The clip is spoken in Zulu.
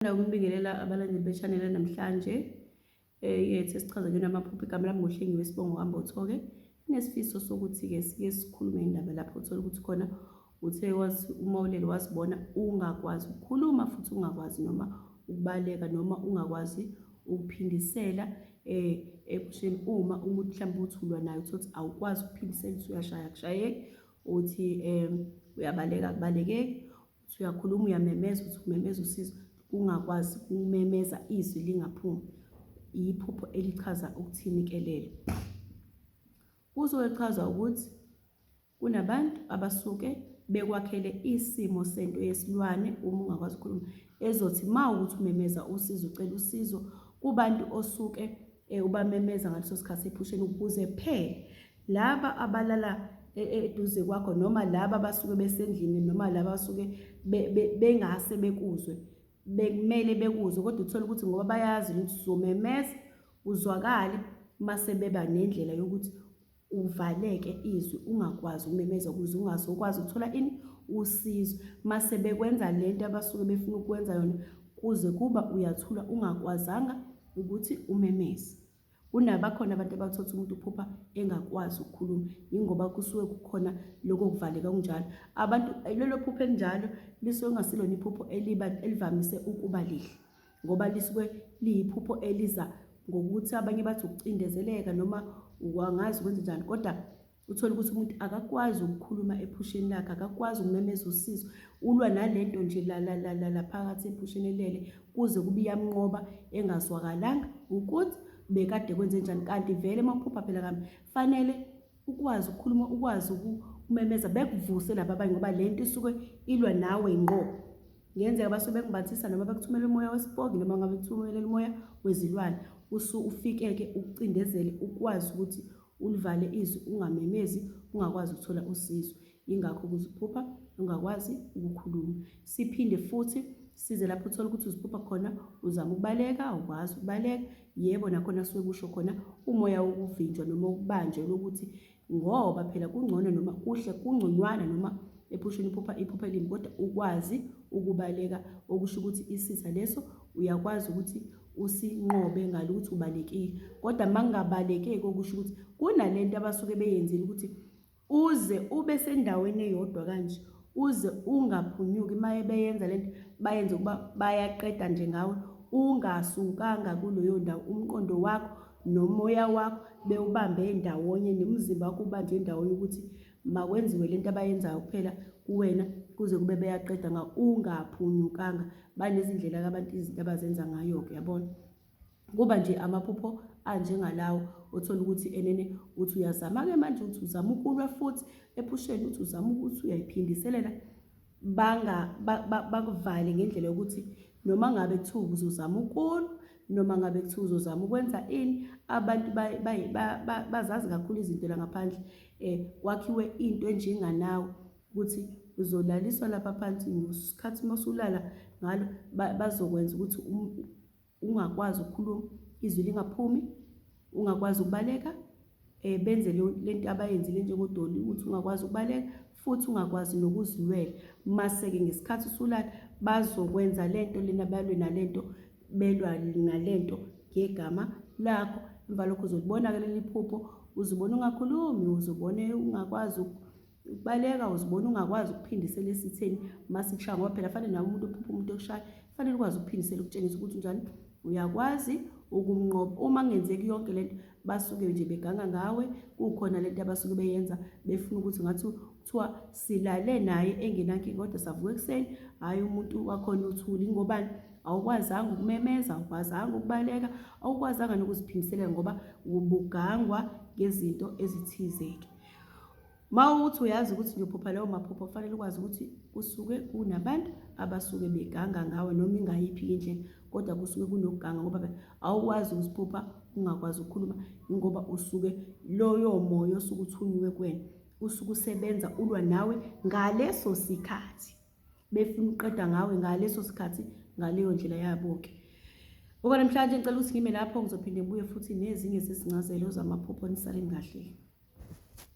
Ngithanda ukubingelela abalandeli be-channel namhlanje eh, yethu esichaza kuyona amaphupho igama lami ngohlengiwe sibongo hamba uthoke inesifiso sokuthi-ke sike sikhulume indaba lapho uthole ukuthi khona uthe uma ulele wazibona ungakwazi ukukhuluma futhi ungakwazi noma ukubaleka noma ungakwazi ukuphindisela eh ebusheni uma umuntu mhlawumbe uthi ulwa naye uthi awukwazi ukuphindisela uthi uyashaya kushayeki uthi um uyabaleka kubalekeki uthi uyakhuluma uyamemeza uthi umemeza usizo kungakwazi kumemeza izwi lingaphumi iphupho elichaza ukuthini ke lelo kuzochaza ukuthi kunabantu abasuke bekwakhele isimo sento yesilwane uma ungakwazi ukukhuluma ezothi ma ukuthi umemeza usizo ucela usizo kubantu osuke eh, ubamemeza ngaleso sikhathi ephusheni ukuze phela laba abalala e, e, eduze kwakho noma laba abasuke besendlini noma laba abasuke bengase bekuzwe bekumele bekuzwe kodwa uthole ukuthi ngoba bayazi ukuthi uzomemeza uzwakale mase beba nendlela yokuthi uvaleke izwi ungakwazi ukumemeza ukuze ungazokwazi ukuthola ini usizo mase bekwenza lento abasuke befuna ukwenza yona kuze kuba uyathula ungakwazanga ukuthi umemeze kunabakhona abantu abathotha umuntu uphupha engakwazi ukukhuluma yingoba kusuke kukhona lokho kuvaleka kunjalo abantu lelo phupho elinjalo lisuke kungasilona iphupho elivamise ukuba lihle ngoba lisuke liyiphupho eliza ngokuthi abanye bathi ukucindezeleka noma wangazi ukwenza njani kodwa uthole ukuthi umuntu akakwazi ukukhuluma ephusheni lakhe akakwazi ukumemeza usizo ulwa nalento nje lalalala phakathi ephusheni elele kuze kube iyamnqoba engazwakalanga ukuthi bekade kwenze njani kanti vele uma uphupha phela kambi fanele ukwazi ukukhuluma ukwazi ukumemeza bekuvuse laba abanye ngoba le nto isuke ilwa nawe ngqo ngenzeka basuke bekumbathisa noma bekuthumela umoya wesipoki noma ngabe kuthumela umoya wezilwane usu ufikeke ucindezele ukwazi ukuthi ulivale izwi ungamemezi ungakwazi ukuthola usizo Yingakho ukuze uphupha ungakwazi ukukhuluma. Siphinde futhi size lapho uthole ukuthi uziphupha khona uzama ukubaleka awukwazi ukubaleka yebo nakhona suke kusho khona umoya wokuvinjwa noma ukubanjwa lokuthi ngoba phela kungcono noma kuhle kungconywana noma ephusheni iphupha iphupha elimbi kodwa ukwazi ukubaleka okusho ukuthi isitha leso uyakwazi ukuthi usinqobe ngalo ukuthi ubalekile kodwa uma kungabalekeki okusho ukuthi kunalento abasuke beyenzile ukuthi Uze ube sendaweni eyodwa kanje uze ungaphunyuki maye beyenza lento bayenze ukuba bayaqeda nje ngawe ungasukanga kuleyo ndawo umqondo wakho nomoya wakho bewubambe ndawonye nomzimba wakho ubanjwe ndawonye ukuthi makwenziwe lento abayenzayo kuphela kuwena kuze kube beyaqeda ngawe ungaphunyukanga banezindlela-ke abantu izinto abazenza ngayo-ke yabona kuba nje amaphupho anjengalawo othola ukuthi enene uthi uyazama-ke manje ukuthi uzama ukulwa futhi ephusheni uthi uzama ukuthi uyayiphindiselela bakuvale ngendlela yokuthi noma ngabe kuthiwa uzozama ukulwa noma ngabe kuthiwa uzozama ukwenza ini abantu bazazi kakhulu izinto la ngaphandle um kwakhiwe into enjenganawo ukuthi uzolaliswa lapha phansi ngesikhathi uma usulala ngalo bazokwenza ukuthi um, ungakwazi ukukhuluma izwi lingaphumi ungakwazi ukubaleka um benze le nto abayenzile njengodoli ukuthi ungakwazi ukubaleka futhi ungakwazi nokuzilwela mase-ke ngesikhathi usulala bazokwenza le nto lena balwe nale nto belwa nale nto ngegama lakho emva lokho uzolibona-ke leli phupho uzibona ungakhulumi uzobone ungakwazi Baleka uzibona ungakwazi ukuphindisela esitheni uma sikushaya ngoba phela fanele nawe umuntu ophupha umuntu okushaya fanele ukwazi ukuphindisela ukutshengisa ukuthi njani uyakwazi ukumnqoba uma kungenzeki yonke le nto basuke nje beganga ngawe kukhona le nto abasuke beyenza befuna ukuthi ngathi kuthiwa silale naye engenankinga kodwa savuka ekuseni hhayi umuntu wakhona uthuli ngobani awukwazanga ukumemeza awukwazanga ukubaleka awukwazanga nokuziphindiselela ngoba ubugangwa ngezinto ezithize-ke Uma uthi uyazi ukuthi ngiyophupha lawo maphupho kufanele ukwazi ukuthi kusuke kunabantu abasuke beganga ngawe noma ingayiphi indlela kodwa kusuke kunokuganga ngoba awukwazi ukusiphupha ungakwazi ukukhuluma ingoba usuke loyo moya osuke uthunyiwe kuwena usuke usebenza ulwa nawe ngaleso sikhathi befuna uqeda ngawe ngaleso sikhathi ngaleyo ndlela yabo-ke okwanamhlanje ngicela ukuthi ngime lapho ngizophinde ngibuye futhi nezinye zezincazelo zamaphupho nisaleni kahle